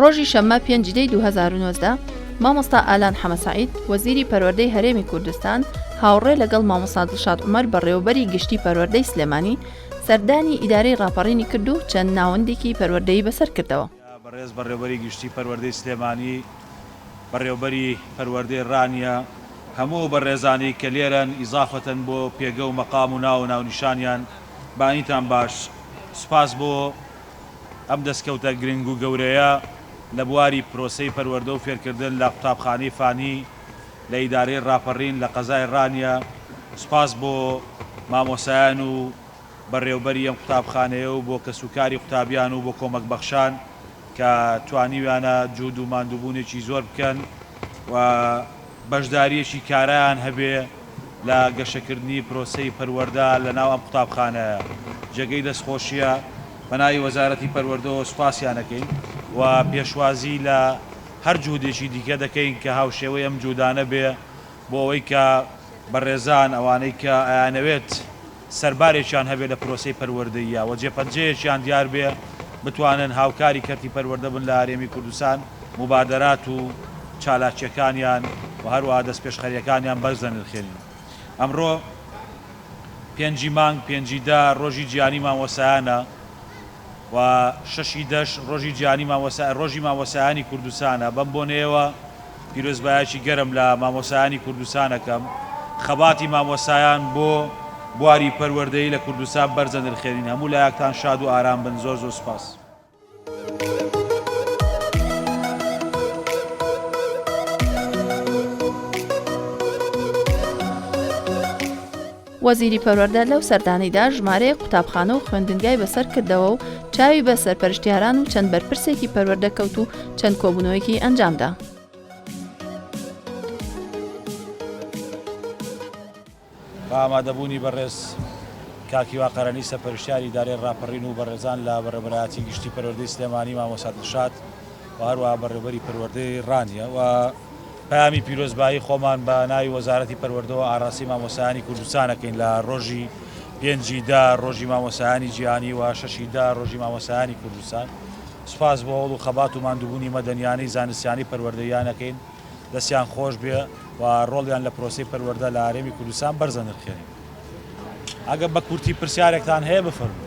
ڕۆژی شەممە پێنج دەی دوو هەزار و نۆزدە، مامۆستا ئالان حەمەسەعید، وەزیری پەروەردەی هەرێمی کوردستان، هاوڕێ لەگەڵ مامۆستا دڵشاد عومەر بەڕێوەبەری گشتی پەروەردەی سلێمانی، سەردانی ئیدارەی ڕاپەڕینی کرد و چەند ناوەندێکی پەروەردەیی بەسەر کردەوە. بەڕێز بەڕێوەبەری گشتی پەروەردەی سلێمانی، بەڕێوەبەری پەروەردەی ڕانیە، هەموو ئەو بەڕێزانەی کە لێرەن، ئیزافەتەن بۆ پێگە و مەقام و ناو و ناونیشانیان، بەئاینتان باش. سوپاس بۆ. ئەم دەستکەوتە گرنگ و گەورەیە لە بواری پرۆسەی پەروەردە و فێرکردن لە قوتابخانەی فانی لە ئیدارەی ڕاپەڕین لە قەزای ڕانیە سوپاس بۆ مامۆسایان و بەڕێوبەری ئەم قوتابخانەیە و بۆ کەسوکاری قوتابیان و بۆ کۆمەکبەخشان کە توانیویانە جوود و ماندووبوونێکی زۆر بکەن و بەشدارییەکی کارایان هەبێ لە گەشەکردنی پرۆسەی پەروەردە لە ناو ئەم قوتابخانەیە جێگەی دەستخۆشییە، بە ناوی وەزارەتی پەروەردەوە سوپاسیان ئەکەین و پێشوازی لە هەر جهودێکی دیکە دەکەین کە هاوشێوەی ئەم جهودانە بێ بۆ ئەوەی کە بەڕێزان ئەوانەی کە ئەیانەوێت سەربارێکیان هەبێت لە پرۆسەی پەروەردەییا و جێپەنجەیەکیان دیار بێت بتوانن هاوکاری کەرتی پەروەردە بن لە هەرێمی کوردستان، موبادەرات و چالاکییەکانیان و هەروەها دەستپێشخەرییەکانیان بەرز دەنرخێنین. ئەمڕۆ پێنجی مانگ، پێنجی دە، ڕۆژی جیهانی مامۆستایانە و شەشی دەش، ڕۆژی جیهانی مامۆستایان، ڕۆژی مامۆستایانی کوردستانە، بەم بۆنەیەوە پیرۆزبایەکی گەرم لە مامۆسایانی کوردستان ئەکەم، خەباتی مامۆسایان بۆ بواری پەروەردەیی لە کوردستان بەرزە نرخێنین، هەموو لایەکتان شاد و ئارام بن زۆر زۆر سوپاس. وەزیری پەروەردە لەو سەردانەیدا ژمارەیەک قوتابخانە و خوێندنگای بەسەر کردەوە و چاوی بە سەرپەرشتیاران و چەند بەرپرسێکی پەروەردە کەوت و چەند کۆبوونەوەیەکی ئەنجامدا. بە ئامادەبوونی بەڕێز کاک هیوا قەرەنی سەرپەرشتیاری ئیدارەی ڕاپەڕین و بەڕێزان لە بەڕێوەبەرایەتی گشتی پەروەردەی سلێمانی مامۆستا دڵشاد و هەروەها بەڕێوەبەری پەروەردەی ڕانیە و پەیامی پیرۆزبایی خۆمان بە ناوی وەزارەتی پەروەردەوە ئاراستەی مامۆستایانی کوردستان ئەکەین لە ڕۆژی پێنج ی دە ڕۆژی مامۆستایانی جیهانی و شەش ی دە ڕۆژی مامۆستایانی کوردستان سوپاس بۆ هەوڵ و خەبات و ماندوبونی مەدەنیانەی زانستیانەی پەروەردەییان ئەکەین دەستیان خۆش بێ و ڕۆڵیان لە پرۆسەی پەروەردە لە هەرێمی کوردستان بەرز ئەنرخێنین ئەگەر بە کورتی پرسیارێکتان هەیە بفەرموون.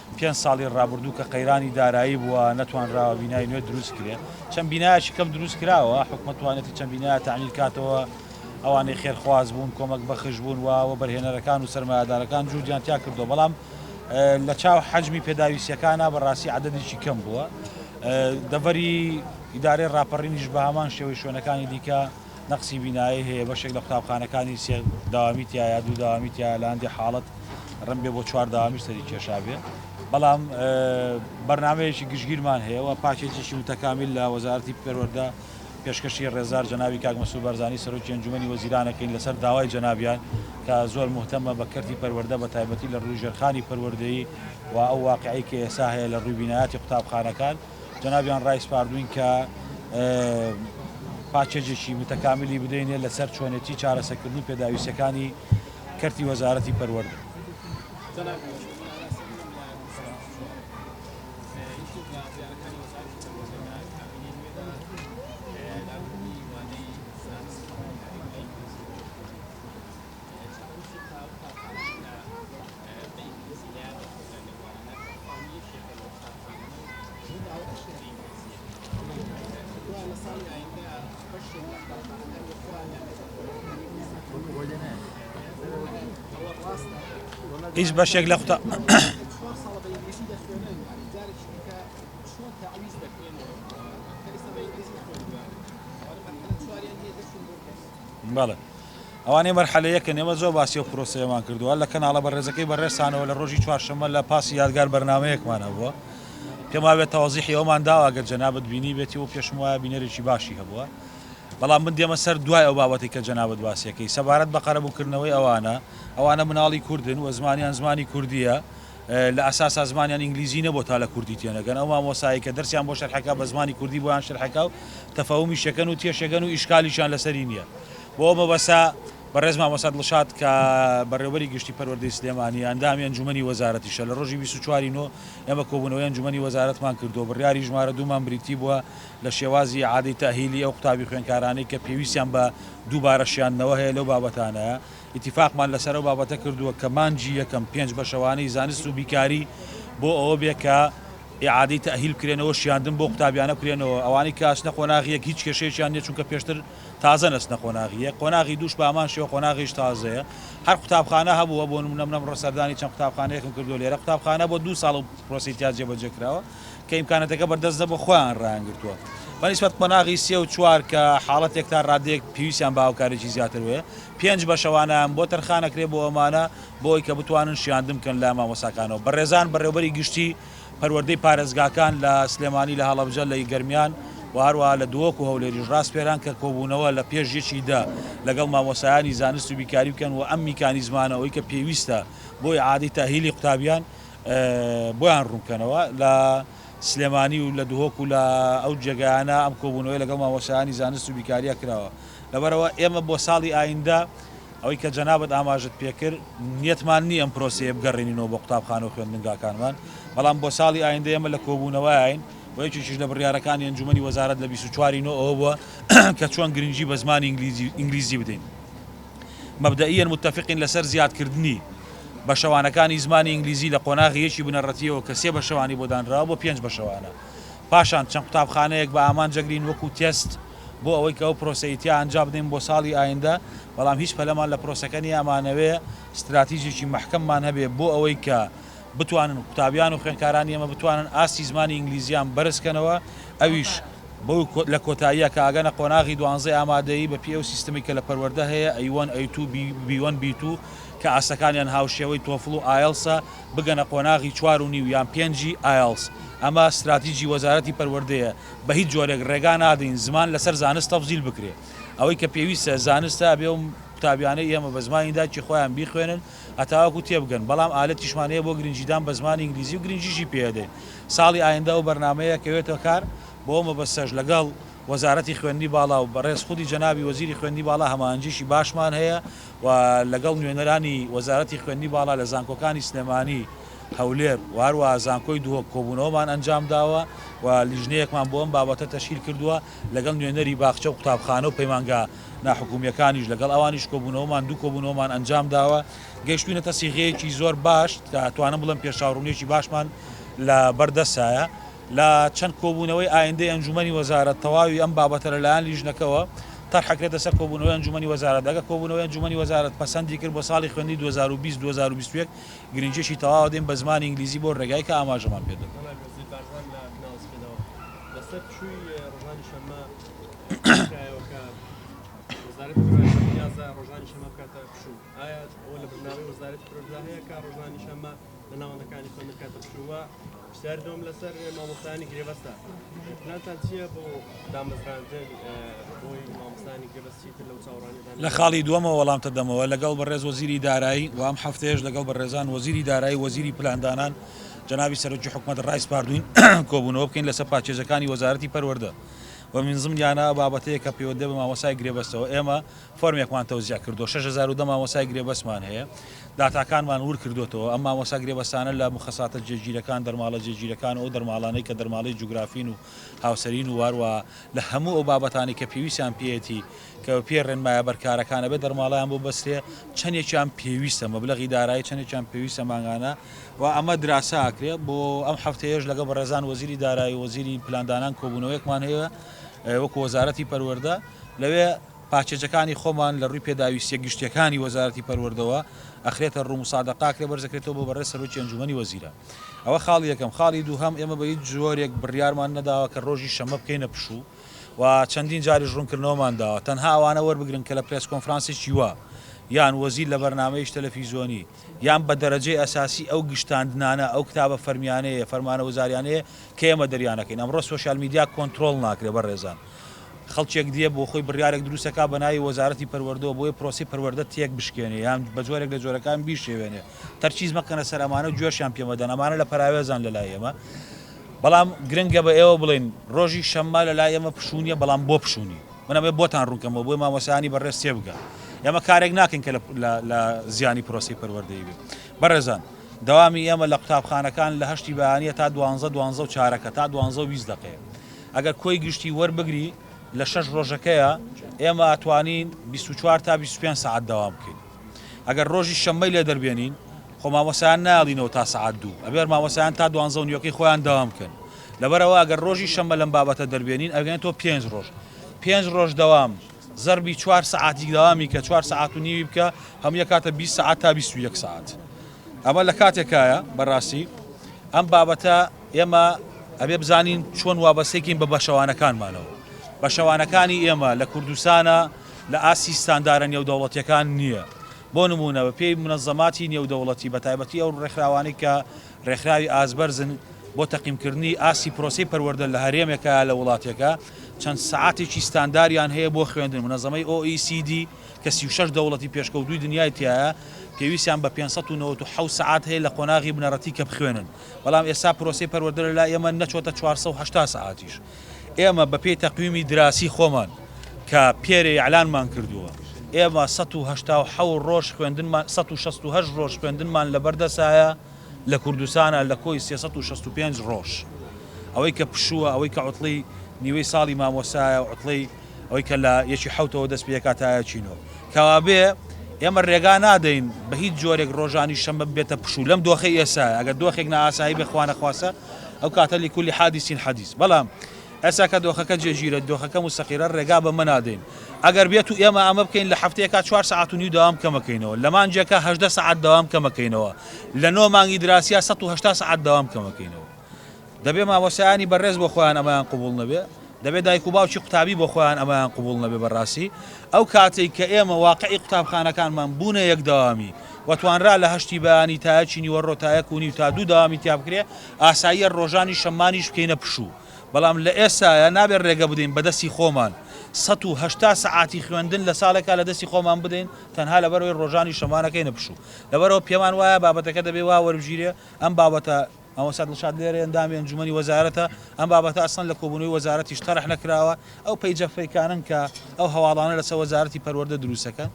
پێنج ساڵی ڕابردوو کە قەیرانی دارایی بووە نەتوانراوە بینای نوێ دروست کرێت چەند بینایەکی کەم دروست کراوە حکومە توانێتی چەند بینایە تعمیر کاتەوە ئەوانەی خێرخواز بوون کۆمەک بەخش بوون و بەرهێنەرەکان و سەرمایهدارەکان جوودیان تیا کردو بەڵام لە چاو حەجمی پێداویستیەکانە بەڕاستی عددێکی کەم بووە دەڤەری ئیدارەی ڕاپەڕینیش بە هەمان شێوەی شوێنەکانی دیکە نەقسی بینایی هەیە، بەشێک لە قوتابخانەکانی سێ دەوامی تیایە، دوو دەوامی تیایە، لە هەندێک حاڵەت رەنگبێ بۆ چوار دەوامیش سەری کێشابێ، بەڵام بەرنامەیەکی گشتگیرمان هەیە و پاکێجێکی متەکامیل لە وەزارەتی پەروەردە پێشکەشی رێزدار جەنابی کاک مەسرور بارزانی سەرۆکی ئەنجوومەنی وەزیران ئەکەین لەسەر داوای جەنابیان کە زۆر موهتەمە بە کەرتی پەروەردە بە تایبەتی لە رووی ژێرخانی پەروەردەیی و ئەو واقعەی کە ئێستا هەیە لە رووی بینایاتی قوتابخانەکان. جەنابیان ڕایسپاردووین کە پاکێجێکی متەکاملی بدەینێ لەسەر چۆنێتی چارەسەکردنی پێداویستەکانی کەرتی وەزارەتی پەروەردە. هیچ بەشێک لە قوتاب بەڵێ ئەوانەی مەرحەلە یەکن ئێمە زۆر باسی ئەو پرۆسەیەمان کردووە لە کەناڵە بەڕێزەکەی بەڕێزتانەوە لە ڕۆژی چوارشەممە لە پاسی یادگار بەرنامەیەکمان هەبووە پێما بێت تەوازیحی ئەومان داوا گەر جەنابەت بینی بێتی و پێشم وایە بینەرێکی باشی هەبووە بەڵام من دێمە سەر دوای ئەو بابەتی کە جەنابەت باسیەکەی سەبارەت بە قەرەبووکردنەوەی ئەوانە ئەوانە مناڵی کوردن و زمانیان زمانی کوردیە لە ئەساسا زمانیان ئینگلیزی نەبووە تا لە کوردی تێنەگەن، ئەو مامۆستایەی کە دەرسیان بۆ شەرحەکا بە زمانی کوردی بۆیان شەرحەکا و تەفەهومی شەکەن و تێشەگەن و ئیشکالیشیان لەسەری نییە. بۆ ئەو مەبەستە بەڕێز مامۆستا دڵشاد کە بەڕێوەبەری گشتی پەروەردەی سلێمانییە، ئەندامی ئەنجوومەنی وەزارەتیشە، لە ڕۆژی بیست و چوار ی نۆ ئێمە کۆبوونەوەی ئەنجوومەنی وەزارەتمان کردووە، بڕیاری ژمارە دوو مان بریتی بووە لە شێوازی ئیعادەی تەئهیلی ئەو قوتابی خوێندکارانەی کە پێویستیان بە دووبارە شیاندنەوە هەیە لەو بابەتانە. ئیتیفاقمان لەسەر ئەو بابەتە کردووە کە مانگی یەکەم پێنج بەشەوانەی زانست و بیکاری بۆ ئەوە بێت کە ئیعادەی تەئهیل بکرێنەوە شیاندن بۆ قوتابیانە بکرێنەوە ئەوانەی کە ئەچنە قۆناغی یەک هیچ کێشەیەکیان نیە چونکە پێشتر تازەن ئەچنە قۆناغی یەک قۆناغی دووش بە هەمان شێوە قۆناغیش تازەیە هەر قوتابخانە هەبووە بۆ نمونە من ئەمڕۆ سەردانی چەند قوتابخانەیەکم کردووە لێرە قوتابخانە بۆ دوو ساڵە و پرۆسەی تیا جێبەجێ کراوە کە ئیمکاناتەکە بەردەست نەبووە خۆیان ڕایانگرتووە بە نیسبەت قۆناغی سێ و چوار کە حاڵەتێک تا ڕادەیەک پێویستیان بە هاوکاریی زیاتر وەیە پێنج بە شەوانەیان بۆ تەرخانەکرێ بۆ ئەمانە بۆ ئەوەی کە بتوانن شیاندن بکەن لە مامۆستاکانەوە بەڕێزان بەڕێوەبەری گشتی پەروەردەی پارێزگاکان لە سلێمانی لە هەڵەبجە لە گەرمیان و هەروەها لە دهۆک و هەولێریش ڕاسپێران کە کۆبوونەوە لە پێش یەکی دە لەگەڵ مامۆستایانی زانست و بیکاری بکەن و ئەم میکانیزمانە ئەوەی کە پێویستە بۆ ئیعادەی تەئهیلی قوتابیان بۆیان ڕوون بکەنەوە لە سلێمانی و لە دهۆک و لە ئەو جێگایانە ئەم کۆبوونەوەی لەگەڵ مامۆستایانی زانست و بیکاریا کراوە لەبەرئەوە ئێمە بۆ ساڵی ئایندە ئەوەی کە جەنابت ئاماژەت پێکرد نیەتمان نیە ئەم پرۆسەیە بگەڕێنینەوە بۆ قوتابخانە و خوێندنگاکانمان بەڵام بۆ ساڵی ئایندە ئێمە لە کۆبوونەوەین و یەکێکیش لە بڕیارەکانی ئەنجومەنی وەزارەت لە بیست و چوار ی نۆ ئەوە بووە کە چۆن گرنگی بە زمانی ئینگلیزی ئینگلیزی بدەین. مەبدەئیەن متەفقین لەسەر زیادکردنی بەشەوانەکانی زمانی ئینگلیزی لە قۆناغی یەکی بنەڕەتییەوە کە سێ بەشەوانی بۆ دانراوە بۆ پێنج بەشەوانە پاشان چەند قوتابخانەیەک بە ئامانجەگرین وەکو تێست بۆ ئەوەی کە ئەو پرۆسەی تیا ئەنجابدەین بۆ ساڵی ئایندە بەڵام هیچ پەلەمان لە پرۆسەکە نییە ئەمانەوێ ستراتیجێکی مەحکەممان هەبێ بۆ ئەوەی کە بتوانن قوتابیان و خوێندکارانی ئێمە بتوانن ئاستی زمانی ئینگلیزییان بەرز کەنەوە ئەویش بۆ لە کۆتاییا کە ئاگەنە قۆناغی دوانزەی ئامادەیی بە پێی ئەو سیستەمی کە لە پەروەردە هەیە، ئەی وەن، ئەی توو، بی وەن، بی توو، کە ئاستەکانیان هاوشێوەی تۆفڵ و ئایڵسە، بگەنە قۆناغی چوار و نیو یان پێنجی ئایڵس. ئەمە ستراتیجی وەزارەتی پەروەردەیە، بە هیچ جۆرێک ڕێگا نادەین زمان لەسەر زانست تەفزیل بکرێ. ئەوەی کە پێویستە زانستە ئەبێ ئەو قوتابیانەی ئێمە بە زمانی دایکی خۆیان بیخوێنن، هەتاوەکو تێبگەن، بەڵام ئالەتیشمان هەیە بۆ گرنگیدان بە زمانی ئینگلیزی و گرنگیشی پێدەین. ساڵی ئایندە ئەو بەرنامەیە کەوێتە کار، بۆ ئەو مەبەستەش لەگەڵ وەزارەتی خوێندنی باڵا و بەڕێز خودی جەنابی وەزیری خوێندنی باڵا هەماهەنگییەکی باشمان هەیە و لەگەڵ نوێنەرانی وەزارەتی خوێندنی باڵا لە زانکۆکانی سلێمانی، هەولێر و هەروەها زانکۆی دهۆک کۆبوونەوەمان ئەنجامداوە و لیژنەیەکمان بۆ ئەم بابەتە تەشکیل کردووە لەگەڵ نوێنەری باخچە و قوتابخانە و پەیمانگا ناحکومیەکانیش لەگەڵ ئەوانیش کۆبونەوەمان دوو کۆبونەوەمان ئەنجامداوە گەیشتوینەتە سیغەیەکی زۆر باش کە توانم بڵم پێشاوڕونیەکی باشمان لە بەردەسایە لە چەند کۆبونەوەی ئایندەی ئەنجومەنی وەزارەت تەواوی ئەم بابەتە لەلایەن لیژنەکەوە تەرحەکرێتە سەر کۆبونەوەی ئەنجومەنی وەزارەت دەگە کۆبونەوەی ئەنجومەنی وەزارەت پەسەندی کرد بۆ ساڵی خوێندی 2020 2021 گرنجیەکی تەواوە دێن بە زمانی ئینگلیزی بۆ رێگای کە ئاماژەمان پێدەن. لە خاڵی دووەمە وەڵامتە دەمەوە لەگەڵ بە ڕێز وەزیری دارایی وام هەفتەیەش لەگەڵ بە ڕێزان وەزیری دارایی وەزیری پلاندانان جنابی سەرۆکی حکومت ڕایسپاردوین کۆبوونەوە بکەین لەسەر پاچێزەکانی وەزارەتی پەروەەردە و من ضمن یانە ئەو بابەتەیە کە پەیوەندە بە مامۆستای گرێبەستەوە ئێمە فۆرمێکمان تەوزیع کردووە شەش هەزار و دە مامۆستای گرێبەستمان هەیە داتاکانمان ورد کردووەتەوە ئەم مامۆستا گرێبەستانە لە مخەساتە جێگیرەکان دەرماڵە جێگیرەکان و ئەو دەرماڵانەی کە دەرماڵەی جوگرافین و هاوسەرین و واروە لە هەموو ئەو بابەتانی کە پێویستیان پێیەتی کە بە پێی ڕێنمایە بەرکارەکان ئەبێ دەرماڵەیان بۆ بەسرێ چەندێکیان پێویستە مەبلەغی دارایی چەندێکیان پێویستە مانگانە و ئەمە دراسە ئەکرێ بۆ ئەم هەفتەیەش لەگە بەڕێزان وەزیری دارایی و وەزیری پلاندانان کۆبوونەوەیەکمان هەیە وەکو وەزارەتی پەروەردە لەوێ پاکێجەکانی خۆمان لە ڕووی پێداویستە گشتیەکانی وەزارەتی پەروەردەوە ئەخرێتە ڕوو مسادەقاکرێ بەرزەکرێتەوە بۆ بەڕێ سەرۆکی ئەنجومی وەزیرە ئەوە خاڵی یەکەم خاڵی دووهم ئێمە بە هیچ جۆرێک بڕیارمان نەداوە کە ڕۆژی شەمە بکەینە پشوو و چەندین جاریش ڕوونکردنەوەمان داوە، تەنها ئەوانە وەربگرن کە لە پرێس کۆنفرانسێکی وا، یان وەزیر لە بەرنامەیەکی تەلەفیزیۆنی، یان بە دەرەجەی ئەساسی ئەو گشتاندنانە، ئەو کتابە فەرمیانەیە، فەرمانە وزاریانەیە کە ئێمە دەریان ئەکەین. ئەمڕۆ سۆشیال میدیا کۆنترۆڵ ناکرێت بەڕێزان. خەڵکێک دێ بۆ خۆی بڕیارێک دروست ئەکات بە ناوی وەزارەتی پەروەردەوە بۆیە پرۆسەی پەروەردە تێک بشکێنێ یان بە جۆرێک لە جۆرەکان بیشێوێنێ. تەرکیز مەکەنە سەر ئەمانە و گوێشیان پێ مەدەن. ئەمانە لە پەراوێزان لە لای ئێمە. بەڵام گرنگە بە ئێوە بڵێین ڕۆژی شەممە لە لای ئێمە پشوونیە بەڵام بۆ پشوونی؟ من ئەمەێ بۆتان ڕوون کەمەوە بۆی مامۆسایانی بەڕێز تێ بگە ئێمە کارێک ناکەین کە لە زیانی پرۆسەی پەروەردەی بێ بەڕێزان دەوامی ئێمە لە قوتابخانەکان لە هەشتی بەیانە تا دوانزە دوانزە و چارەکە تا دوانزە و بیست دەقەیە ئەگەر کۆی گشتی وەربگری لە شەش ڕۆژەکەیە ئێمە ئەتوانین بیست و چوار تا بیست و پێنج سەعات دەوام بکەین ئەگەر ڕۆژی شەممەی لێ دەربێنین خۆ مامۆسایان نایڵینەوە تا سەعات دوو ئەبێر مامۆسایان تا دوانزە و نیوەکەی خۆیان دەوام بکەن لەبەرەوە ئەگەر ڕۆژی شەممە لەم بابەتە دەربێنین ئەگەن تۆ پێنج ڕۆژ پێنج ڕۆژ دەوام زەربی چوار سەعاتی داوامی کە چوار سەعات و نیوی بکە هەم یە کاتە بی سەعات تا بیست و یەک سەعات ئەمە لە کاتێکایە بەڕاستی ئەم بابەتە ئێمە ئەبێ بزانین چۆن وابەستێکین بە بەشەوانەکانمانەوە بەشەوانەکانی ئێمە لە کوردستانە لە ئاستی ستاندارە نێودەوڵەتییەکان نییە، بۆ نموونە بە پێی مونەزەماتی نێودەوڵەتی بە تایبەتی ئەو ڕێکخراوانەی کە ڕێکخراوی ئاست بەرزن بۆ تەقیمکردنی ئاستی پرۆسەی پەروەردە لە هەرێمێکە یا لە وڵاتێکە چەند سەعاتێکی ستانداریان هەیە بۆ خوێندن مونەزەمەی OECD کە سی و شەش دەوڵەتی پێشکەوتووی دنیای تیایە پێویستیان بە پێنج سەد و نەوەد و حەوت سەعات هەیە لە قۆناغی بنەڕەتی کە بخوێنن بەڵام ئێستا پرۆسەی پەروەردە لە لای ئێمە نەچۆتە چوار سەد و هەشتا سەعاتیش ئێمە بە پێی تەقویمی دراسی خۆمان کە پێرێ ئیعلانمان کردووە، ئێمە سەد و هەشتا و حەوت ڕۆژ خوێندنمان سەد و شەست و هەشت ڕۆژ خوێندنمان لە بەردەسایە لە کوردستانا لە کۆی سێ سەد و شەست و پێنج ڕۆژ ئەوەی کە پشووە ئەوەی کە عوتڵەی نیوەی ساڵی مامۆستایە و عوتڵەی ئەوەی کە لە یەکی حەوتەوە دەست پێکا تا یەکی نۆ. کەوابێ ئێمە رێگا نادەین بە هیچ جۆرێک رۆژانی شەممە ببێتە پشوو لەم دۆخەی ئێستایە، ئەگەر دۆخێک نائاسایی بێ خوانەخواستە ئەو کاتە لکل حادث حدیث بەڵام ئێستا کە دۆخەکە جێگیرە، دۆخەکە موستەقیرە رێگا بەمە نادەین. ئەگەر بێتوو ئێمە ئەمە بکەین لە هەفتەیەکا چوار سەعات و نیو دەوام کەمەکەینەوە، لە مانگێکا هەژدە سەعات دەوام کەمەکەینەوە، لە نۆ مانگی دراسییا سەد و هەشتا سەعات دەوام کەمەکەینەوە. دەبێ مامۆستایانی بەڕێز بۆ خۆیان ئەمەیان قبوڵ نەبێ، دەبێ دایک و باوکی قوتابی بۆ خۆیان ئەمەیان قبوڵ نەبێ بەڕاستی ئەو کاتەی کە ئێمە واقعی قوتابخانەکانمان بوونە یەک دەوامی و توانرا لە هەشتی بەیانی تا یەکی نیوەڕۆ تا یەک و نیو تا دوو دەوامی تیا بکرێ ئاساییە ڕۆژانی شەممانیش بکەینە پشوو بەڵام لە ئێستایە نابێ ڕێگە بدەین بە دەستی خۆمان سەد و هەشتا سەعاتی خوێندن لە ساڵێکا لە دەستی خۆمان بدەین تەنها لەبەرئەوەی ڕۆژانی شەممانەکەینە پشوو لەبەرەوە پێمان وایە بابەتەکە دەبێ وا وەربگیرێ ئەم بابەتە مامۆستا دڵشاد لێرە ئەندامی ئەنجومەنی وەزارەتە، ئەم بابەتە ئەسڵەن لە کۆبوونەوەی وەزارەتیش تەرح نەکراوە، ئەو پەیجە فەیکانەن کە ئەو هەواڵانە لەسەر وەزارەتی پەروەردە دروست دەکەن،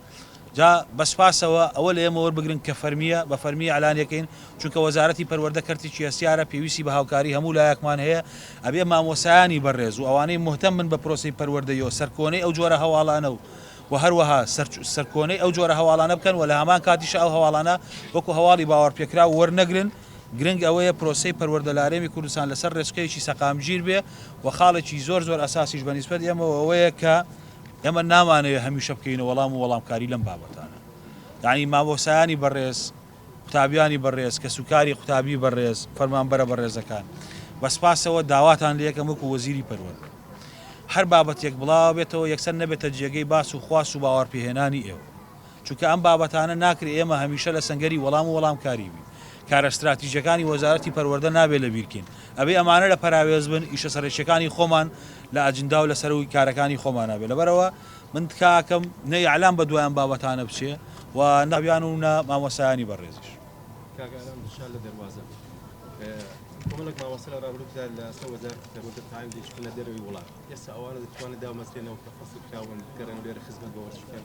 جا بە سپاسەوە ئەوە لە ئێمە وەربگرن کە فەرمییە بە فەرمی ئیعلانی ئەکەین، چونکە وەزارەتی پەروەردە کەرتێکی هەستیارە پێویستی بە هاوکاری هەموو لایەکمان هەیە، ئەبێ مامۆستایانی بەڕێز و ئەوانەی موهتەم بن بە پرۆسەی پەروەردەی و سەرکۆنەی ئەو جۆرە هەواڵانە و و هەروەها سەرکۆنەی ئەو جۆرە هەواڵانە بکەن و لە هەمان کاتیشا ئەو هەواڵانە وەکو هەواڵی باوەڕپێکراو وەرنەگرن، گرنگ ئەوەیە پرۆسەی پەروەردە لە هەرێمی کوردستان لەسەر رێچکەیەکی سەقامگیر بێ و خاڵێکی زۆر زۆر ئەساسیش بە نیسبەت ئێمەوە ئەوەیە کە ئێمە نامانەوێ هەمیشە بکەوینە وەڵام و وەڵامکاری لەم بابەتانە یانی مامۆستایانی بەڕێز قوتابیانی بەڕێز کەسوکاری قوتابی بەڕێز فەرمانبەرە بەڕێزەکان بە سپاسەوە داواتان لە یەکەم وەکو وەزیری پەروەردە هەر بابەتێک بڵاوە بێتەوە یەکسەر نەبێتە جێگەی باس و خواست و باوەڕپێهێنانی ئێوە چونکە ئەم بابەتانە ناکرێ ئێمە هەمیشە لە سەنگەری وەڵام و وەڵامکاری بین. کارە ستراتیجیەکانی وەزارەتی پەروەردە نابێ لەبیرکەین. ئەبێ ئەمانە لە پەراوێز بن، ئیشە سەرەکیەکانی خۆمان لە ئەجندا و لە سەرووی کارەکانی خۆمانا بێ. لەبەرئەوە من تکاکەم نە ئیعلام بە دوای ئەم بابەتانە بچێ و نە قوتابیان و نە مامۆستایانی بەڕێزیش. کاک ئارام دڵشاد لە دەروازە. کۆمەڵێک مامۆستا لە ڕابردوودا لە سەر وەزارەتی پەروەردە تایم دەیشکەنە دەرەوەی وڵات. ئێستا ئەوانە دەتوانن دامەزرێنەوە کە فەسخ کراون بگەڕێنەوە لێرە خزمەت بە وەرزش بکەن؟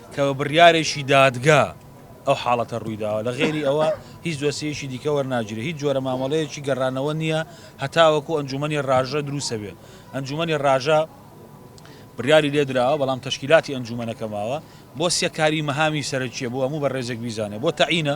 کە بە بڕیارێکی دادگا ئەو حاڵەتە ڕوویداوە، لە غەیری ئەوە هیچ دۆسیەیەکی دیکە وەرناگیرێت، هیچ جۆرە مامەڵەیەکی گەڕانەوە نییە هەتاوەکو ئەنجوومەنی ڕاژە دروستە بێت، ئەنجوومەنی ڕاژە بڕیاری لێ دراوە، بەڵام تەشکیلاتی ئەنجوومەنەکە ماوە بۆ سەکاری مەهامی سەرەکییە بۆ هەموو بەڕێزێک بیزانێت بۆ تەعینە،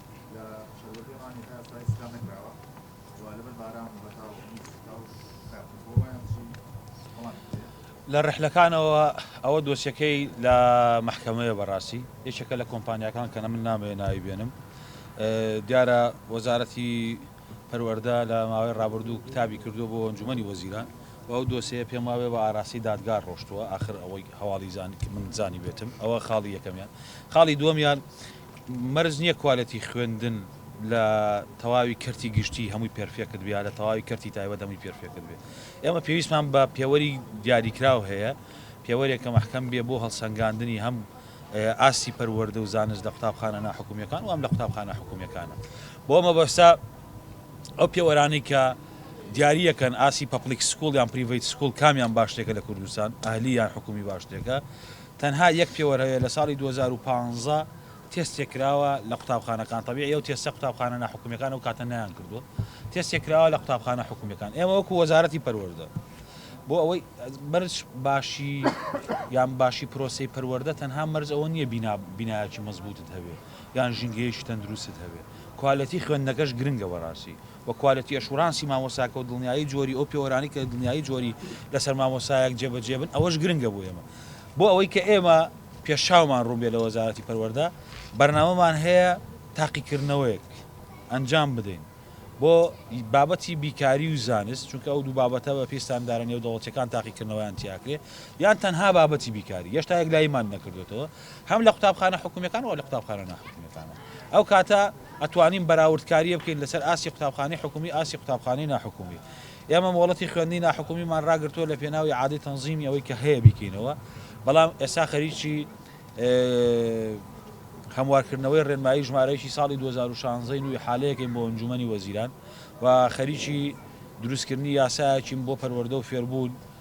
لە ڕحلەکانەوە ئەوە دۆسیەکەی لە محکەمەیە بەڕاستی یەکێکە لە کۆمپانیەکان کە من نامێ ناوی بێنم دیارە وەزارەتی پەروەەردە لە ماوەی ڕابردوو کتابی کردو بۆ ئەنجومی وەزیران و ئەو دۆسەیە پێم واێ بە ئاراسی دادگار ڕۆشتووە آخر ئەوەی هەواڵی زانانی من زانی بێتم ئەوە خاڵی یەکەمیان خاڵی دووەمیان مەرج نیە کوالێتی خوێندن لە تەواوی کەرتی گشتی هەمووی پێرفێکت بێ یا لە تەواوی کەرتی تایبەت هەمووی پێرفێکت بێ ئێمە پێویستمان بە پێوەری دیاریکراو هەیە پێوەرێکە مەحکەم بێ بۆ هەڵسەنگاندنی هەم ئاستی پەروەردە و زانست لە قوتابخانە ناحکومیەکان و هەم لە قوتابخانە حکومیەکانە بۆ مەبەستە ئەو پێوەرانەی کە دیاریەکەن ئاسی پەپلیک سکوڵ یان پریڤیت سکوڵ کامیان باشتێکە لە کوردستان ئەهلی یان حکومی باشتێکە تەنها یەک پێوەر هەیە لە ساڵی دوو هەزار و پازدە تێستێک کراوە لە قوتابخانەکان تەبیعی ئەو تێستە قوتابخانە ناحکومیەکان ئەو کاتە نەیان کردوە تێستێک کراوە لە قوتابخانە حکومیەکان ئێمە وەکو وەزارەتی پەروەردە بۆ ئەوەی مەرج باشی یان باشی پرۆسی پەروەردە تەنها مەرج ئەوە نییە بینا بینایکی مەزبوتت هەبێ یان ژینگەیەکی تەندروستت هەبێ کوالەتی خوێندنەکەش گرنگە بەڕاستی و کوالێتی ئەشورانسی مامۆستاکە و دڵنیایی جۆری ئەو پێوەرانەی کە دڵنیایی جۆری لەسەر مامۆستایەک جێبەجێ بن ئەوەش گرنگە بۆ ئێمە بۆ ئەوەی کە ئێمە پێشچاومان ڕوون بێت لە وەزارەتی پەروەردە بەرنامەمان هەیە تاقیکردنەوەیەک ئەنجام بدەین بۆ بابەتی بیکاری و زانست چونکە ئەو دوو بابەتە بە پێستاندارە نێو دەوڵەتەکان تاقیکردنەوەیان تیاکرێ یان تەنها بابەتی بیکاری یەشتا یەک لایمان نەکردوێتەوە هەم لە قوتابخانە حکومیەکان و لە قوتابخانە ناحکومیەکانەوە ئەو کاتە ئەتوانین بەراورد کاریە بکەین لەسەر ئاستی قوتابخانەی حکومی ئاستی قوتابخانەی ناحکومی ئێمە مۆڵەتی خوێندنی ناحکومیمان راگرتووە لە پێناوی عادەی تەنزیمی ئەوەی کە هەیە بیکەینەوە بەڵام ئێستا خەریکی هەموارکردنەوەی ڕێنمایی ژمارەیەکی ساڵی 2016 نوی حالەیەکەین بۆ ئەنجومەنی وەزیران و خەریکی دروستکردنی یاسایەکیم بۆ پەروەردە و فێربوون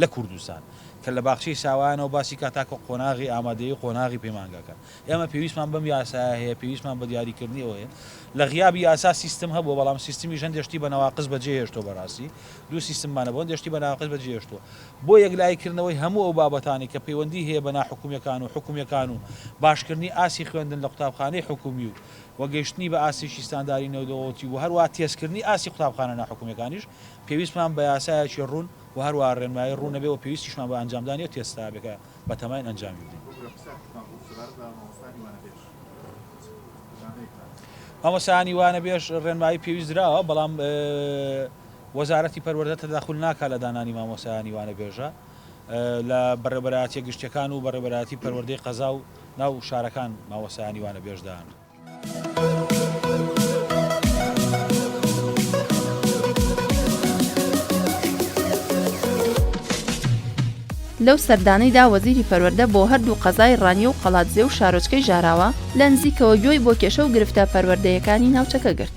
لە کوردستان، کە لە باخچەی ساوایانەوە باسی کا تاکو قۆناغی ئامادەیی و قۆناغی پەیمانگاکان. ئێمە پێویستمان بەم یاسایە هەیە، پێویستمان بە دیاریکردنی ئەوە هەیە. لە غیابی یاسا سیستم هەبووە، بەڵام سیستمیش هەندێ شتی بە نەواقس بە جێ هێشتووە بە راستی. دوو سیستممان هەبوو، هەندێ شتی بە ناقس بە جێ هێشتووە. بۆ یەکلایی کردنەوەی هەموو ئەو بابەتانەی کە پەیوەندی هەیە بە ناحکومیەکان و حکومیەکان و باش کردنی ئاستی خوێندن لە قوتابخانەی حکومی و و گەیشتنی بە ئاستێکی ستانداری نێودەوڵەتی و هەروەها تێزکردنی ئاستی قوتابخانە ناحکومیەکانیش پێویستمان بە یاسایەکی روون و هەروەها ڕێنمایی ڕوون نەبێت و پێویستیشمان بە ئەنجامدانی ئەو تێستە هەبێت کە بەتەماین ئەنجامی بدەین. مامۆستایانی وانەبێژ ڕێنمایی پێویست دراوە، بەڵام وەزارەتی پەروەردە تەداخول ناکات لە دانانی مامۆستایانی وانەبێژە لە بەڕێوەبەرایەتیە گشتیەکان و بەڕێوەبەرایەتی پەروەردەی قەزا و ناو شارەکان مامۆستایانی وانەبێژ دانرێت. لەو سەردانەیدا وەزیری پەروەردە بۆ هەردوو قەزای ڕانیە و قەڵادزێ و شارۆچکەی ژاراوە لە نزیکەوە گوێی بۆ کێشە و گرفتە پەروەردەیەکانی ناوچەکە گرت.